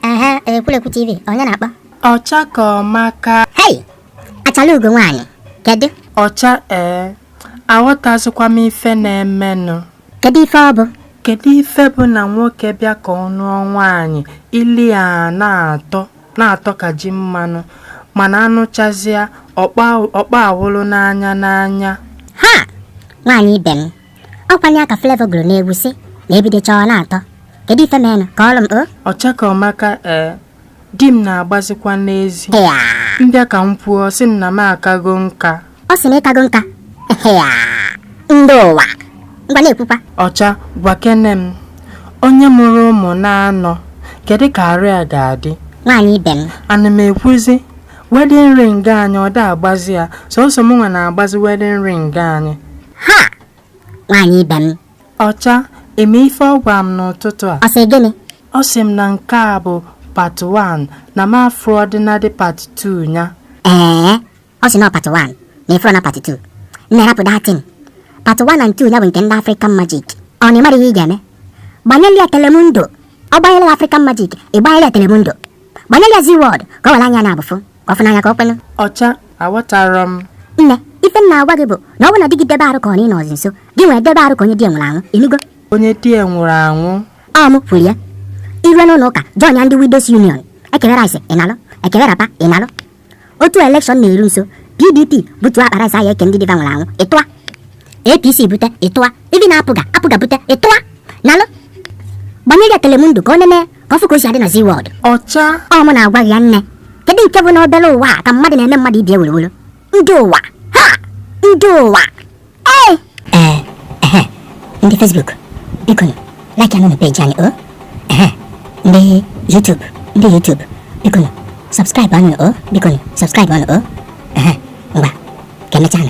aha ekwulekwu tv onye na-akpọ ọcha ka ọmaka hei achalugo nwaanyị kedu ọcha ee aghọtazikwa m ife na-emenụ kedu ife ọ bụ kedu ife bụ na nwoke bịa ka ọ nụọ nwaanyị ile ya na-atọ na-atọ ka ji mmanụ mana anụchazịa ọkpa awụlụ n'anya n'anya ha nwaanyị ibe m ọ kwanụ ya ka Flavour gụrụ n'egwu sị na e bidocha ọ na-atọ kedu ife menụ kọọrụ m o ọcha ka ọmaka ee di m na-agbazikwa n'ezi m bịa ka m kwuo sị m na m akago nka ọ sị na ị kago nka Ehea, ndị ụwa ngwa na-ekwukwa ọcha gwakene m onye mụrụ ụmụ naanọ kedu ka arụ ya ga-adị nwaanyị ibe m ana m ekwuzi wedding ring anyị ọ da agbazi ya sọsọ m nwa na-agbazi wedding ring anyị ha nwaanyị ibe m ọcha ị ma ife ọ gwara m n'ụtụtụ a ọ sị gịnị ọ sị m na nke a bụ part 1 na m afụrọdịnadị part 2 ya ee ọ sị na ọ part 1 na ị fụrọ na part 2 nne rapụ that thing part 1 and 2 ya bụ nke ndị African Magic ọ na ị mara ihe ị ga-eme gbanyelu ya telemundo ọ gbanyelu ya African Magic ị gbanyelu ya telemundo gbanyelu ya Zee World ka o were anya naabọ fụ ka ọ fụ n'anya ka o kwenụ ọcha aghọtara m nne ife m na-agwa gị bụ na ọ bụ na di gị debe arụ ka ọ na ị nọzi nso gị nwa edebe arụ ka onye di ya nwụrụ anwụ ị nụgo onye di ya nwụrụ anwụ ọ mụ kwuru ya i rue n'ụlọ ụka joinia ndị widows union e kewe rice ị nalụ e kewe wrapper ị nalụ otu election na-eru nso pdp butuo akpa rice ahụ eke ndị di va nwụrụ anwụ ị tụa apc bute ị tụa even apga bute ị tụa nalụ gbanyere ya telemundo ka o nene ka ọ fụ ka o si adị na Zee World ọcha ọ mụ na-agwa gị ya nne kedu nke bụ na obere ụwa a ka mmadụ na-eme mmadụ ibe ya wuruwuru ndị ụwa ha ndị ụwa ee ehe ndị Facebook biko nụ like anụ na page anyị o ehe ndị YouTube ndị YouTube biko nụ subscribe anụ o biko nụ subscribe anụ o ehe ngwa ka emechaa nụ